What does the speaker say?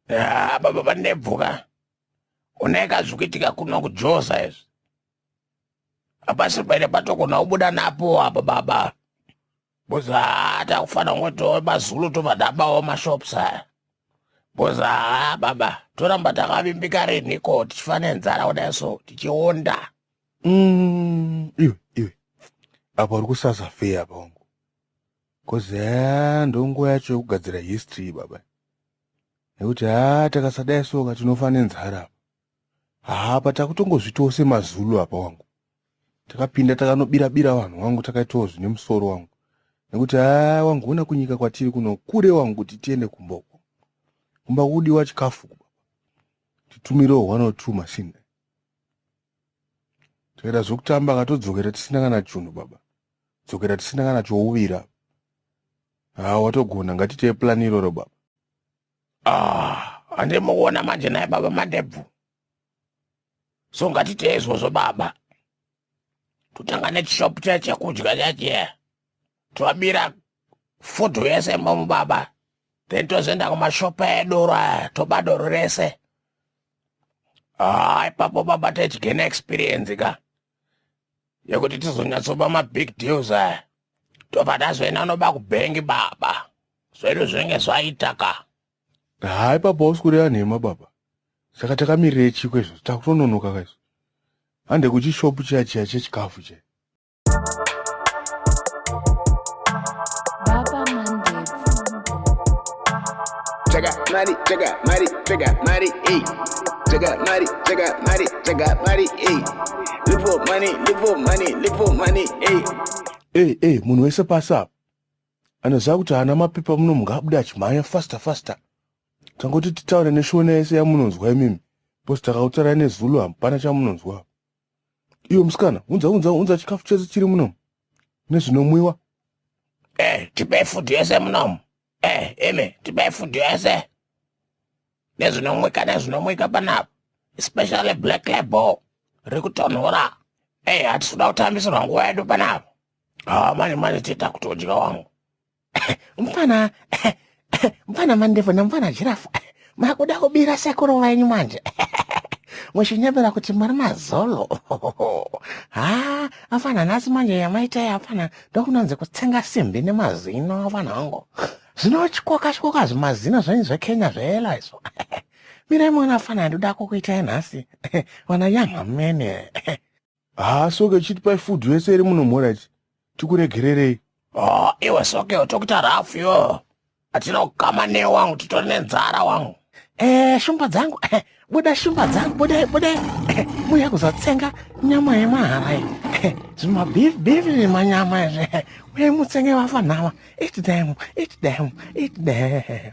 Ah, baba vanebvu ka unaika zvikuitika kuno kujoza izvi hapasiri paine patogona kubuda napo apa baba bcoz haa takufana kungotiwo mazulu tobva tabawo mashops aya bcoz haa baba toramba takavimbika rinhiko tichifa nenzara kudai so tichionda Mm, iwe iwe apa uri kusazafeya apa wangu Cause haa ndonguva yacho yekugadzira history iyi baba nekuti haa takasadai soka tinofa nenzara apa haa apa takutongozvitawo semazulu apa wangu takapinda takanobira bira vanhu wangu takaitawo zvine musoro wangu nekuti haa wangu hona kunyika kwatiri kuno kure wangu kuti tiende kumboko kumba kudiwa chikafu titumire one or two machine Toita zvekutamba ka todzokera tisina kana chunhu baba. Dzokera tisina kana chouvira. Ah watogona ngatiitei plan iroro baba. Ah handei mukuona manje naye baba mandebvu. So ngatiitei izvozvo baba. Totanga nechishop chaya chekudya chachiya. tobira food yese momu baba then tozoenda kumashopa edoro aya toba doro rese haa ah, ipapo baba techigena experience ka yekuti tizonyatsoba mabig deals aya tobva tazoenda noba kubhengi baba zvedu zvinenge zvaita ka haa ah, ipapo hausi kureva nhema baba saka takamirire chiko izvo takutononoka ka izvo hande kuchishopu chiya chiya chechikafu chee mari, chega, mari, chega, mari, ey. Chega, mari, chega, mari, chega, mari, ey. Live for money, live for money, live for money, ey. Ey, ey, munhu wese pasi apa anoziva kuti haana mapepa muno munhu ngaabude achimhanya faster faster tangoti titaure neshona yese yamunonzwa imimi bcause takautarai nezulu hapana chamunonzwa iwe musikana unza unza unza chikafu chese chiri muno nezvinomwiwa eh tipe food yese muno eh imi tipe food yese nezvinomwika nezvinomwika panapa especially black label rekutonhora eh hatisi kuda kutambisirwa nguva yedu panapa ah manje manje tiita kuti udya wangu mfana mfana mandevu nemfana jirafu makuda kubira sekuru venyu manje muchinyebera kuti muri mazolo ha afana nhasi manje yamaitai afana ndokunonzi kutsenga simbi nemazino afana hangu zvinotyoka tyoka zvimazino zvenyu zvekenya zveela izvo mirai muona afana ndoda kukuitai nhasi vana yamhamene Haa soke chitipai food yese iri muno mhora ichi tikuregererei. Oh, iwe soke utokuita rough yo. Atina kukama ne wangu titori nenzara wangu. Eh, shumba dzangu. Eh, buda shumba dzangu, buda buda. Eh, muya kuzotsenga nyama yemahara iyi. Eh, zvima beef beef nemanyama izvi. Uye mutsenge vafa nhama. Eat them, eat them, eat them.